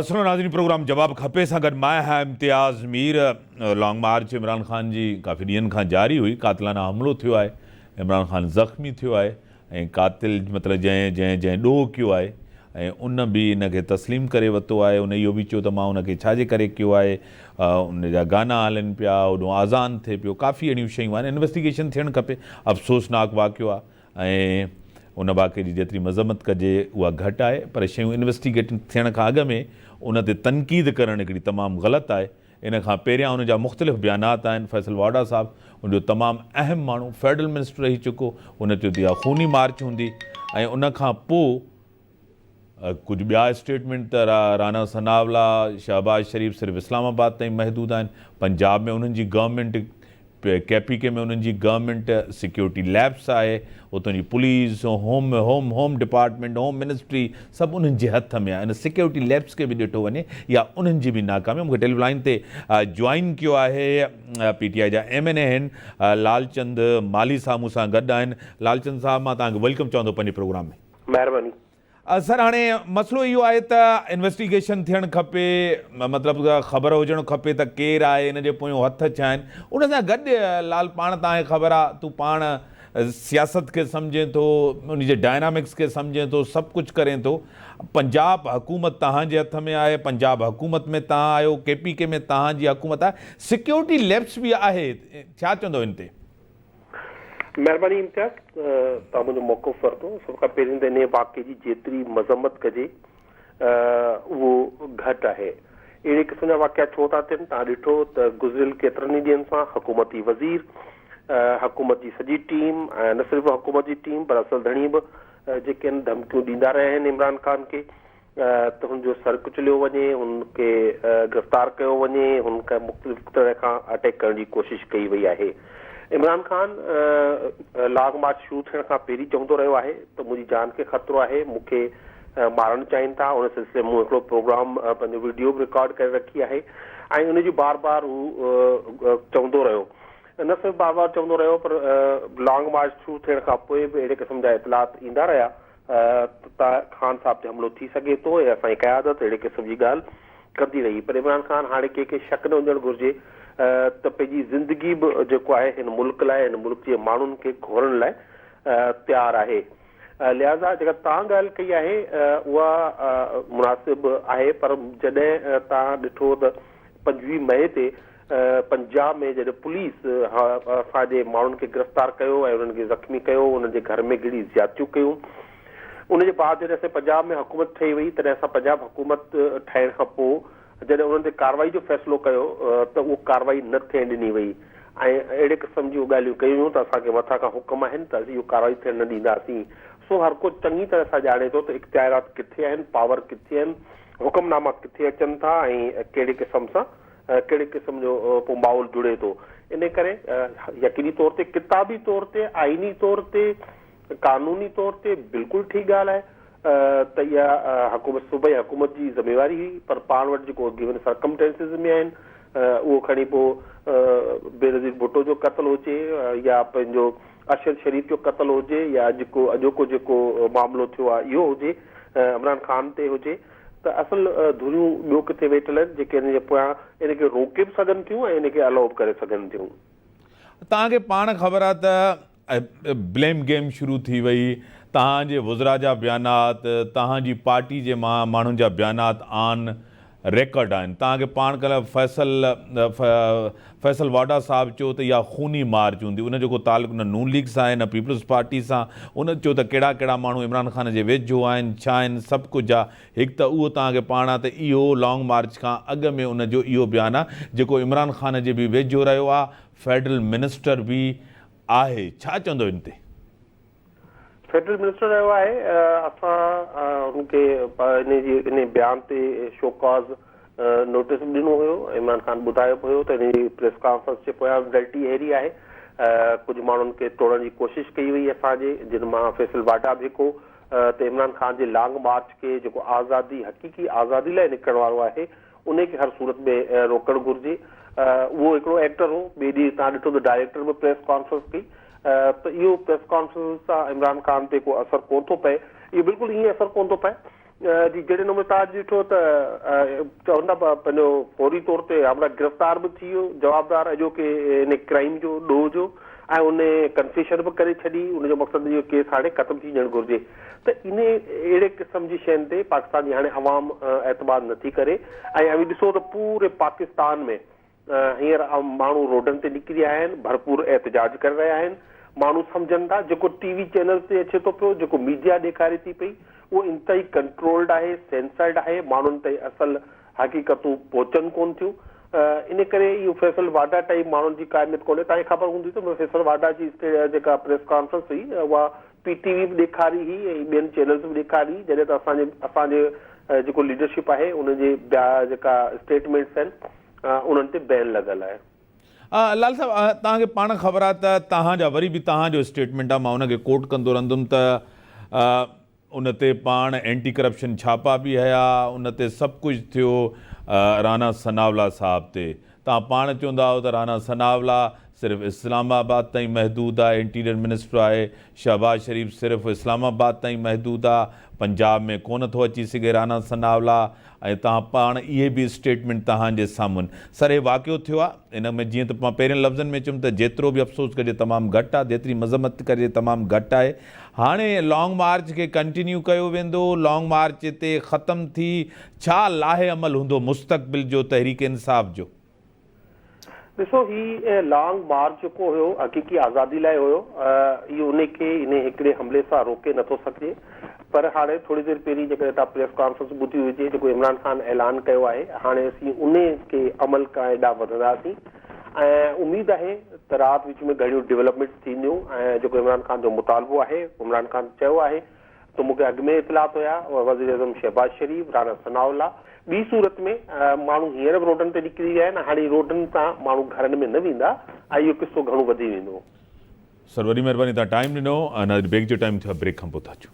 سنو ناظرين پروگرام جواب کپي سان گڏ مايا هيا امتياز مير لانگ مارچ عمران خان جي ڪافي ڏينهن کان جاري هئي قاتلانه حملو ٿيو آهي عمران خان زخمي ٿيو آهي ۽ قاتل مطلب جنهن جنهن جنهن ڏوهه ڪيو آهي ۽ ان به ان کي تسليم ڪري وتو آهي ان اهو به چيو ته مان ان کي ڇا جي ڪري ڪيو آهي ان جا گانا هلن پيا هوڏون آذان ٿئي پيو ڪافي اهڙيون شيون آهن انويسٽيگيشن ٿيڻ کپي افسوسناڪ واقعو آهي ۽ ان واقعي جي جيتري مذمت ڪجي اها گهٽ آهي پر شيون انويسٽيگيٽ ٿيڻ کان اڳ ۾ ان تي تنقيد ڪرڻ هڪڙي تمام غلط آهي ان کان پهريان ان جا مختلف بيانات آهن، فيصل واڊا صاحب ان جو تمام اهم ماڻهو فيڊرل منسٽر رهي چڪو، ان چيو ته اها خوني مارچ هوندي ۽ ان کان پوء ڪجهه ٻيا اسٽيٽمينٽ ته رانا ثناءالله، شهباز شريف صرف اسلام آباد تائين محدود آهن، پنجاب ۾ انهن جي گورنمينٽ ڪي پي ڪي ۾ انهن جي گورنمينٽ سيڪيورٽي ليپس آهي، اتون جي police, home home home department, home ministry سڀ انهن جي هٿ ۾ آهي، ان سيڪيورٽي ليپس کي به ڏٺو وڃي اها انهن جي به ناڪامي آهي، مون کي ٽيلي لائين تي جوائن ڪيو آهي پي ٽي آء جا ايم اين اي آهن لالچند مالهي صاحب مون سان گڏ آهن، لالچند صاحب مان توهان کي ويلڪم چوان ٿو پنهنجي پروگرام ۾. مهرباني سر هاڻي مسئلو اهو آهي ته انويسٽيگيشن ٿيڻ کپي مطلب خبر هجڻ کپي ته ڪير آهي ان جي پويون هٿ ڇا آهن ان سان گڏ لال پاڻ تانکي خبر آهي تون پاڻ سياست کي سمجهين ٿو ان جي ڊائنامڪس کي سمجهين ٿو سڀ ڪجهه ڪرين ٿو پنجاب حڪومت تهان جي هٿ ۾ آهي پنجاب حڪومت ۾ تهان آهيو ڪي پي ڪي ۾ تهان جي حڪومت آهي سيڪيورٽي ليپس به آهي ڇا چوندو ان تي مهرباني امتياز توهان منهنجو موقف ورتو سڀ کان پهرين ته انهيء واقعي جي جيتري مذمت ڪجي اهو گهٽ آهي اهڙي قسم جا واقعا ڇو ٿا ٿين توهان ڏٺو ته گذريل ڪيترن ئي ڏينهن سان حڪومتي وزير حڪومت جي سڄي ٽيم ۽ نه صرف حڪومت جي ٽيم پر اصل ڌڻي به جيڪي ان ڌمڪيون ڏيندا رهيا آهن عمران خان کي ته هن جو سر ڪچليو وڃي، هن کي گرفتار ڪيو وڃي، هن کي مختلف طرح کان اٽيڪ ڪرڻ جي ڪوشش ڪئي وئي آهي. عمران خان لانگ مارچ شروع ٿيڻ کان پهرين چوندو رهيو آهي ته منهنجي جان کي خطرو آهي، مون کي مارڻ چاهين ٿا، ان سلسلي ۾ مون هڪڙو پروگرام پنهنجو وڊيو به رڪارڊ ڪري رکي آهي ۽ ان جي بار بار هو چوندو رهيو نه صرف بار بار چوندو رهيو پر لانگ مارچ شروع ٿيڻ کان پوء به اهڙي قسم جا اطلاعات ايندا رهيا ته خان صاحب تي حملو ٿي سگهي ٿو ۽ اسان جي قيادت اهڙي قسم جي ڳالهه ڪندي رهي پر عمران خان هاڻي ڪنهن کي شڪ نه هجڻ گهرجي ته پنهنجي زندگي به جيڪو آهي هن ملڪ لاء هن ملڪ جي ماڻهن کي گهورڻ لاء تيار آهي لهذا جيڪا توهان ڳالهه ڪئي آهي اها مناسب آهي پر جڏهن توهان ڏٺو ته پنجويهه مئي تي پنجاب ۾ جڏهن پوليس اسان جي ماڻهن کي گرفتار ڪيو ۽ انهن کي زخمي ڪيو، انهن جي گهر ۾ گهڙي زيادتيون ڪيون. ان جي بعد جڏهن اسان جي پنجاب ۾ حڪومت ٺهي وئي تڏهن اسان پنجاب حڪومت ٺهڻ کان پوء جڏهن انهن تي ڪارروائي جو فيصلو ڪيو ته اهو ڪارروائي نه ٿيڻ ڏني وئي ۽ اهڙي قسم جون ڳالهيون ڪيون ويون ته اسان کي مٿان کان حڪم آهن ته اسين اهو ڪارروائي ٿيڻ نه ڏينداسين. سو هر ڪو چڱي طرح سان ڄاڻي ٿو ته اختيارات ڪٿي آهن، پاور ڪٿي آهن، حڪم ناما ڪٿي اچن ٿا ۽ ڪهڙي قسم سان ڪهڙي قسم جو ڪو ماحول جڙي ٿو. انهيء ڪري يقيني طور تي ڪتابي طور تي، آئيني طور تي، قانوني طور تي بلڪل ٺيڪ ڳالهه آهي ته اها حڪومت صوبائي حڪومت جي ذميواري هئي پر پاڻ وٽ جيڪو گيون سرڪمٽينسز ۾ آهن اهو کڻي پوء بينظير ڀٽو جو قتل هجي يا پنهنجو ارشد شريف جو قتل هجي يا اڄ ڪو اڄوڪو جيڪو معاملو ٿيو آهي اهو هجي عمران خان تي هجي ته اصل ڌريون ٻيو ڪٿي ويٺل آهن جيڪي ان جي پويان ان کي روڪي به سگهن ٿيون ۽ ان کي الائو به ڪري سگهن ٿيون. توهان کي پاڻ خبر آهي ته بليم گيم شروع ٿي وئي، توهان جي وزرا جا بيانات، توهان جي پارٽي جي ماڻهن جا بيانات آن ريڪارڊ آهن، توهان کي پاڻ ڪلهه فيصل فيصل واڍا صاحب چيو ته اها خوني مارچ هوندي، ان جو ڪو تعلق نه نون ليگ سان آهي نه پيپلز پارٽي سان، ان چيو ته ڪهڙا ڪهڙا ماڻهو عمران خان جي ويجهو آهن، ڇا آهن، سڀ ڪجهه آ، هڪ ته اهو توهان کي پاڻ آ ته اهو لانگ مارچ کان اڳ ۾ ان جو اهو بيان آ جيڪو عمران خان جي به ويجهو رهيو آ، فيڊرل منسٽر به آهي، ڇا چوندو ان تي؟ فيڊرل منسٽر رهيو آهي، اسان هن کي انهي جي انهي بيان تي شو ڪاز نوٽيس به ڏنو هيو، عمران خان ٻڌايو به هيو ته انهي جي پريس ڪانفرنس جي پويان به ڊلٽي اهڙي آهي، ڪجهه ماڻهن کي ٽوڙڻ جي ڪوشش ڪئي وئي اسان جي، جن مان فيصل واڊا به هڪ هو ته عمران خان جي لانگ مارچ کي جيڪو آزادي حقيقي آزادي لاء نڪرڻ وارو آهي، انهي کي هر صورت ۾ روڪڻ گهرجي. اهو هڪڙو ايڪٽر هو. ٻئي ڏينهن تهان ڏٺو ته ڊائريڪٽر به پريس ڪانفرنس ڪئي ته اهو پريس ڪانفرنس سان عمران خان تي ڪو اثر ڪونه ٿو پئي. اهو بلڪل ائين اثر ڪونه ٿو پئي جي جهڙي نموني تهان اڄ ڏٺو ته چون ٿا پنهنجو فوري طور تي هاوڙا گرفتار به ٿي ويو جوابدار اڄوڪي ان ڪرائيم جو ڏوهه جو ۽ ان ڪنفيشن به ڪري ڇڏي ان جو مقصد اهو ڪيس هاڻي ختم ٿي وڃڻ گهرجي. ته انهي اهڙي قسم جي شين تي پاڪستان جي هاڻي عوام اعتماد نٿي ڪري ۽ اوهين ڏسو ته پوري پاڪستان ۾ هينئر ماڻهو روڊن تي نڪري آيا آهن ڀرپور احتجاج ڪري رهيا آهن ماڻهو سمجهن ٿا جيڪو ٽي وي چينلز تي اچي ٿو پيو جيڪو ميڊيا ڏيکاري ٿي پئي اهو انتهائي ڪنٽرولڊ آهي سينسرڊ آهي ماڻهن تائين اصل حقيقتون پهچن ڪونه ٿيون ان ڪري اهو فيصل واڊا ٽئي ماڻهن جي قائميت ڪونهي تانجي خبر هوندي ته فيصل واڊا جي جيڪا پريس ڪانفرنس هئي اها پي ٽي وي به ڏيکاري هئي ۽ ٻين چينلز به ڏيکاري هئي جڏهن ته اسان جي اسان جي جيڪو ليڊرشپ آهي ان جي بيا جيڪا اسٽيٽمينٽس آهن انهن تي بين لڳل آهي. لال صاحب توهان کي پاڻ خبر آهي ته توهان جا وري به توهان جو اسٽيٽمينٽ آهي مان ان کي ڪوٽ ڪندو رهندم ته ان تي پاڻ اينٽي ڪرپشن ڇاپا به هيا ان تي سڀ ڪجهه ٿيو رانا ثناءالله صاحب تي توهان پاڻ چوندا آهيو ته رانا ثناءالله صرف اسلام آباد تائين محدود آهي انٽيريئر منسٽر آهي شهباز شريف صرف اسلام آباد تائين محدود آهي پنجاب ۾ ڪونه ٿو اچي سگهي رانا ثناءالله ۽ تهان پاڻ اهي به اسٽيٽمينٽ تهان جي سامهن سرهي واقعو ٿيو آ ان ۾ جيئن ته مان پهرين لفظن ۾ چيم ته جيترو به افسوس ڪجي تمام گهٽ آ جيتري مذمت ڪجي تمام گهٽ آهي هاڻي لانگ مارچ کي ڪنٽينيو ڪيو ويندو لانگ مارچ هتي ختم ٿي ڇا لاهي عمل هوندو مستقبل جو تحريڪ انصاف جو ڏسو هي لانگ مارچ جيڪو هيو حقيقي آزادي لاء هيو اهو انهي کي انهي هڪڙي حملي سان روڪي نه ٿو سگهجي پر هاڻي ٿوري دير پهرين جيڪڏهن توهان پريس ڪانفرنس ٻڌي هجي جيڪو عمران خان اعلان ڪيو آهي هاڻي اسين انهي کي عمل ڪائين ڏانهن وڌنداسين ۽ اميد آهي ته رات وچ ۾ گهڻيون ڊولپمينٽس ٿينديون ۽ جيڪو عمران خان جو مطالبو آهي عمران خان چيو آهي تو مون کي اڳ ۾ اطلاعات هيا، وزيراعظم شهباز شريف، رانا ثناء الله، ٻي صورت ۾ ماڻهو هينئر به روڊن تي نڪري ويا آهن، هاڻي روڊن تان ماڻهو گهرن ۾ نه ويندا ۽ اهو قصو گهڻو وڌي ويندو. سر وڏي مهرباني تهان ٽائيم ڏنو ۽ ناظرين بريڪ جو ٽائيم ٿيو آهي بريڪ کانپو ٿا اچون.